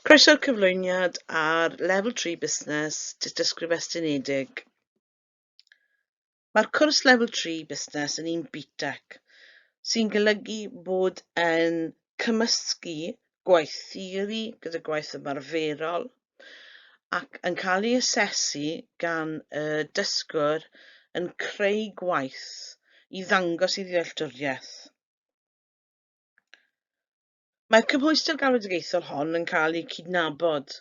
Croeso'r cyflwyniad ar Level 3 Busnes, Dystysgrif Estynedig. Mae'r cwrs Level 3 Busnes yn un BTEC, sy'n golygu bod yn cymysgu gwaith theori gyda gwaith ymarferol ac yn cael ei asesu gan y dysgwr yn creu gwaith i ddangos ei ddealltwriaeth. Mae'r cymhwyster galwedigaethol hon yn cael eu cydnabod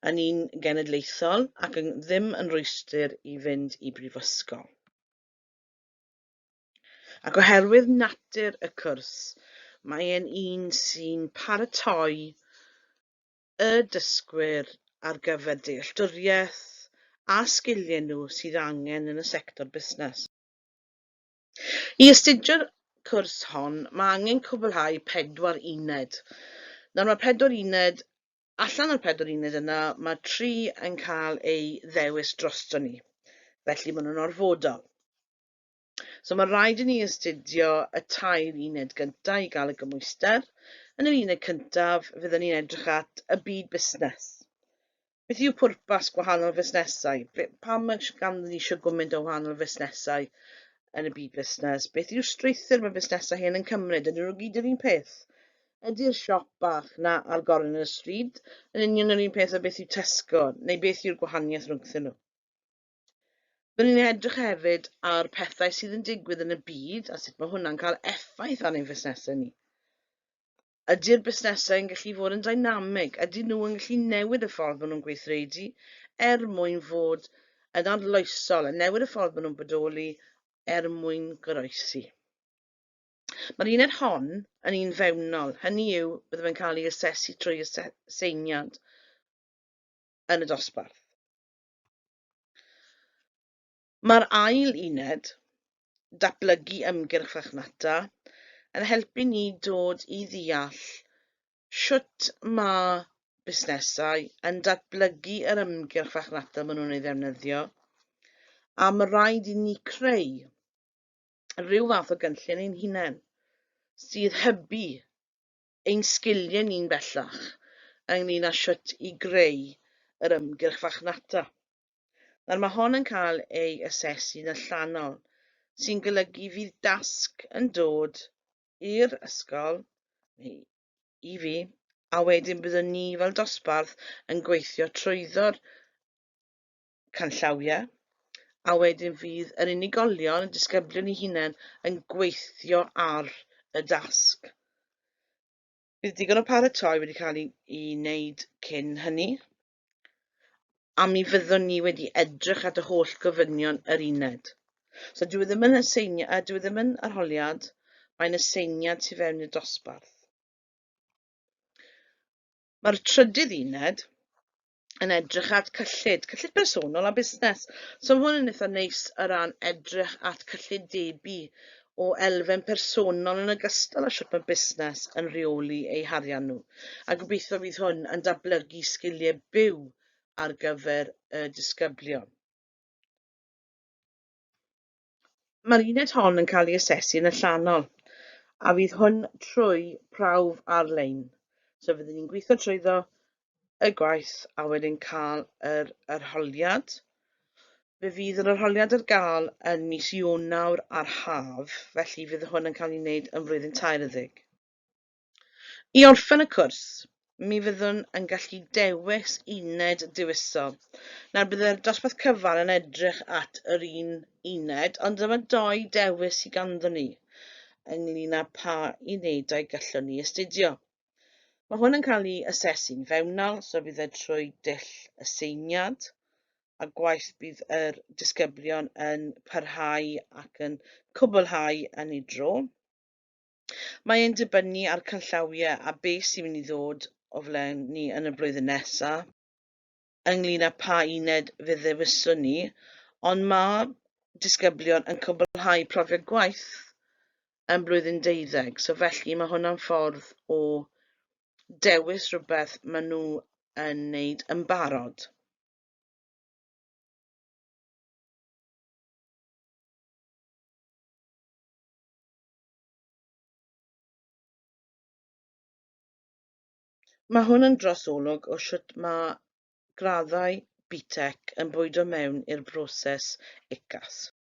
yn un genedlaethol ac yn ddim yn rhwystr i fynd i brifysgol. Ac oherwydd natur y cwrs, mae e'n un sy'n paratoi y dysgwyr ar gyfer dealltwriaeth a sgiliau nhw sydd angen yn y sector busnes. I astudio'r cwrs hon, mae angen cwblhau pedwar uned. Nawr mae pedwar uned, allan o'r pedwar uned yna, mae tri yn cael eu ddewis drosto ni. Felly maen nhw'n orfodol. So mae rhaid i ni astudio y tair uned gyntaf i gael y gymwyster. Yn yr uned cyntaf, fyddwn ni'n edrych at y byd busnes. Beth yw pwrpas gwahanol fusnesau? Pam mae ganddyn ni eisiau gwmynt o wahanol fusnesau yn y byd busnes? Beth yw strwythur mae busnesau hyn yn cymryd? Ydyn nhw gyd yr un peth? Ydy'r siop bach na ar gornel y stryd yn union yr un peth o beth yw Tesco, neu beth yw'r gwahaniaeth rhwngthyn nhw? Byddwn ni'n edrych hefyd ar pethau sydd yn digwydd yn y byd a sut mae hwnna'n cael effaith ar ein fusnesau ni. Ydy'r busnesau yn gallu fod yn dynamig? Ydyn nhw yn gallu newid y ffordd maen nhw'n gweithredu er mwyn fod yn arloesol a newid y ffordd maen nhw'n bodoli er mwyn goroesi? Mae'r uned hon yn un fewnol, hynny yw byddaf yn cael ei asesu trwy aseiniad yn y dosbarth. Mae'r ail uned, Datblygu Ymgyrch Fachnata, yn helpu ni dod i ddeall sut mae busnesau yn datblygu yr ymgyrch fachnata maen nhw'n ei ddefnyddio, a mae rhaid i ni creu rhyw fath o gynllun ein hunain sydd hybu ein sgiliau ni'n bellach ynglyn â sut i greu yr ymgyrch fachnata. Nawr mae hon yn cael ei asesu'n allanol, sy'n golygu fydd dasg yn dod i'r ysgol, neu i fi, a wedyn byddwn ni fel dosbarth yn gweithio trwyddo'r canllawiau, a wedyn fydd yr unigolion, y disgyblion i hunain, yn gweithio ar y dasg. Bydd digon o paratoi wedi cael ei wneud cyn hynny. a mi fyddwn ni wedi edrych at y holl gofynion yr uned. So dwi e ddim yn aseiniad, a dwi e ddim yn arholiad, mae'n aseiniad tu fewn i'r dosbarth. Mae'r trydydd uned yn edrych at cyllid, cyllid personol a busnes. So mae hwn yn eitha neis o ran edrych at cyllid debu o elfen personol yn ogystal â shwt mae busnes yn rheoli eu harian nhw. A gobeithio fydd hwn yn datblygu sgiliau byw ar gyfer y disgyblion. Mae'r uned hon yn cael ei asesu yn y llanol, a fydd hwn trwy prawf ar-lein. So fydden ni'n gweithio trwyddo y gwaith a wedyn cael yr arholiad. Fe fydd yr arholiad ar gael yn mis Ionawr a'r haf, felly fydd hwn yn cael ei wneud yn flwyddyn tair y ddig. I orffen y cwrs, mi fyddwn yn gallu dewis uned dewisol. Nawr byddai'r dosbarth cyfan yn edrych at yr un uned, ond dyma doi dewis sydd ganddyn ni ynglyn â pa unedau gallwn ni astudio. Mae hwn yn cael ei asesu'n fewnol, so fydd e trwy dull aseiniad, a gwaith bydd yr disgyblion yn parhau ac yn cwblhau yn ei dro. Mae e'n dibynnu ar canllawiau a beth sy'n mynd i ddod o flaen ni yn y blwyddyn nesaf. ynglyn â pha uned fe ddewiswn ni, ond mae disgyblion yn cwblhau profiad gwaith yn blwyddyn deuddeg, so felly mae hwnna'n ffordd o dewis rhywbeth maen nhw yn wneud yn barod. Mae hwn yn dros olwg o shwt mae graddau BTEC yn bwydo mewn i'r broses UCAS.